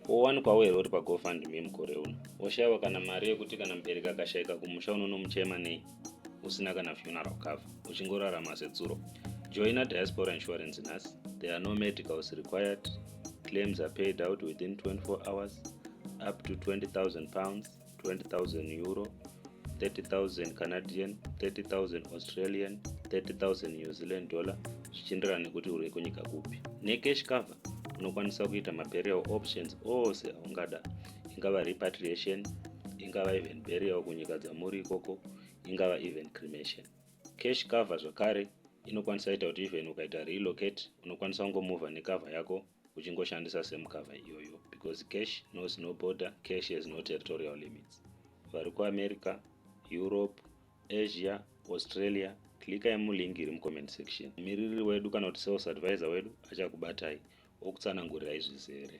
wowanikwawo here uri pagofundme mukore uno woshaiwa kana mari yekuti kana mubereki akashaika kumusha unonomuchema nei usina kana funeral cover uchingorarama setsuro joina diaspora insurance nhasi there are no medicals required claims are paid out within 24 hours up to 20000 pounds 20000 euro 30000 canadian 30000 australian 30000 new zealand dollar zvichienderana nekuti uri kunyika kupi necash cover unokwanisa kuita maburial options ose aungada ingava repatriation ingava even burial kunyika dzamuri ikoko ingava even cremation cash cover zvakare inokwanisa ita kuti even ukaita relocate unokwanisa kungomuvha necovha yako uchingoshandisa same cover iyoyo because cash knows no border cash has no territorial limits vari kuamerica europe asia australia klika yemulingi iri mucomment section mumiriri wedu kana kuti sales advisor wedu achakubatai okutsanangurirai zvizere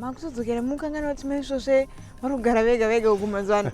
makuzodzokera mukanganwa kuti maisvosve vari kugara vega vega uku mazuva ano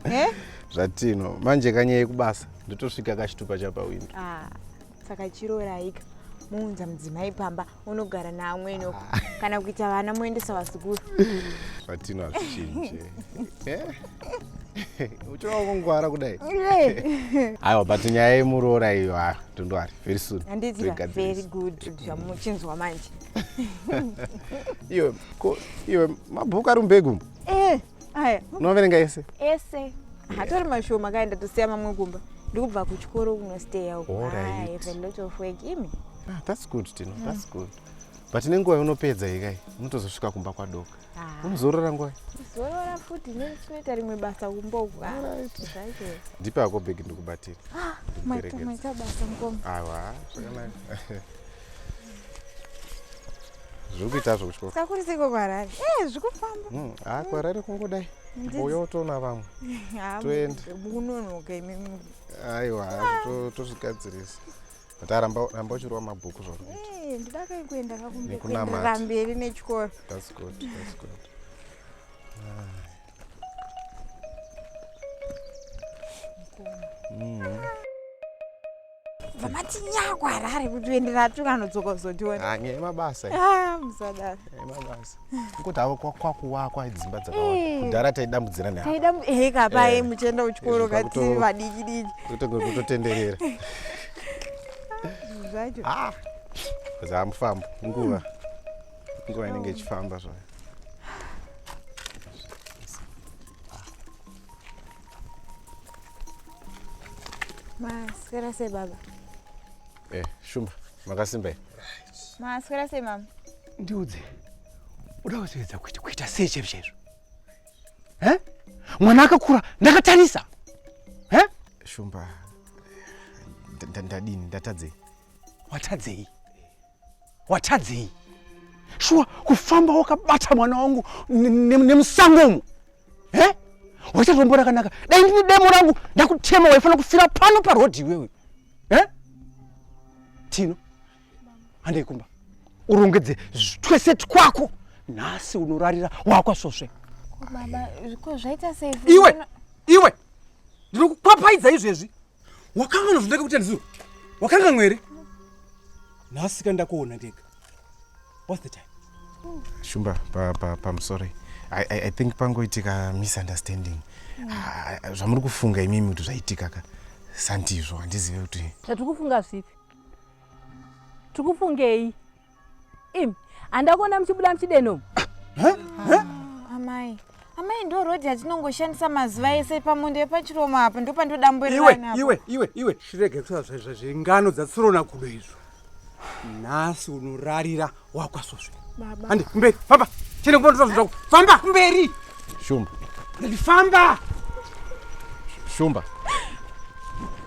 eh? zvatino manje kanyaya kubasa ndotosvika kachitupa chapawindi ah, saka chiroraika muunza mudzimai pamba unogara naamwene uko ah. kana kuita vana moendesa vazukuru zvatino hazvichinje eh? uchina kungwara kudai aiwa but nyaya yemuroora iyo ha ah, tondwari very soon very good zvamuchinzwa manje iwe ko iwe mabhuku ari mubegumu eh, aya unoverenga ese ese hatori mashoma kae ndatosiya mamwe kumba ndikubva kuchikoro kunosteya ukuimi ah, thats good tino mm. thats good but nenguva unopedza ikai unotozosvika kumba kwadoka ah. unozorora nguva zorora futi neni chinoita rimwe basa kumba uku ah, ndipe ako bhegi ndikubatira maita basa ngoma awa zvakanaka zviri kuita zvo kuchikoro sakuri siko kwarari e zviri kufamba hmm, ha kwarari kungodai mbuya otoona vamwe toenda mukunonoka imi aiwa ah. tozvigadzirisa but aramba ramba uchirova mabhuku zvakuitndidakei kuenda kakuenderera mberi nechikoro thats good thats good mm -hmm. vamati nyakwa harare kuti uendera atuka anodzoka kuzotiona ah, nyaya yemabasa ah, musadaro yemabasa kuti avo kwakuwakwa dzimba dzakawanda eh. kudhara taidambudzira neaeka eh, paye eh. muchienda kuchikoro kati vadiki diki kutotenderera zvacho ah, zamufambo nguva nguva inenge ichifamba zvayo Maswera sei baba? Eh, Shumba, makasimba here? Maswera sei mama? Ndiudze, uda kuzoedza kuti kuita sei chero chaizvo? Eh? Mwana akakura, ndakatarisa. Eh? Shumba, ndadini, ndatadzei? Watadzei? watadzei shuwa kufamba wakabata mwana wangu nemusango umu he waita rombo rakanaka dai ndine demo rangu ndakutema waifanira kufira pano parodhi iwewe he tino handei kumba urongedze twese twako nhasi unorarira wakwasvosve iwe iwe ndinokukwapfaidza izvezvi wakanga unozondeka kuti andizo wakanga mwere nhasi ka ndakuona ndega whats the time shumba pamusori pa, pa, pa, i think pangoitika misunderstanding mm. Ah, ah, zvamuri kufunga imimi kuti zvaitika ka sandizvo handizive kuti zvatiri kufunga zvipi tiri kufungei Im, handa kuona muchibuda muchideno. Ah, ah, amai. Amai ndo road yatinongoshandisa mazuva ese pamundo yepachiromo apa ndo pandodamburirana. Iwe, iwe, iwe, iwe. Shirege kusa zvaizva zvingano dzatsirona kudo izvo. Nasi unorarira wakwasoswe. Baba. Andi, kumberi, famba. Chene kumberi, famba. Famba, famba. Kumberi. Shumba. Famba. Shumba.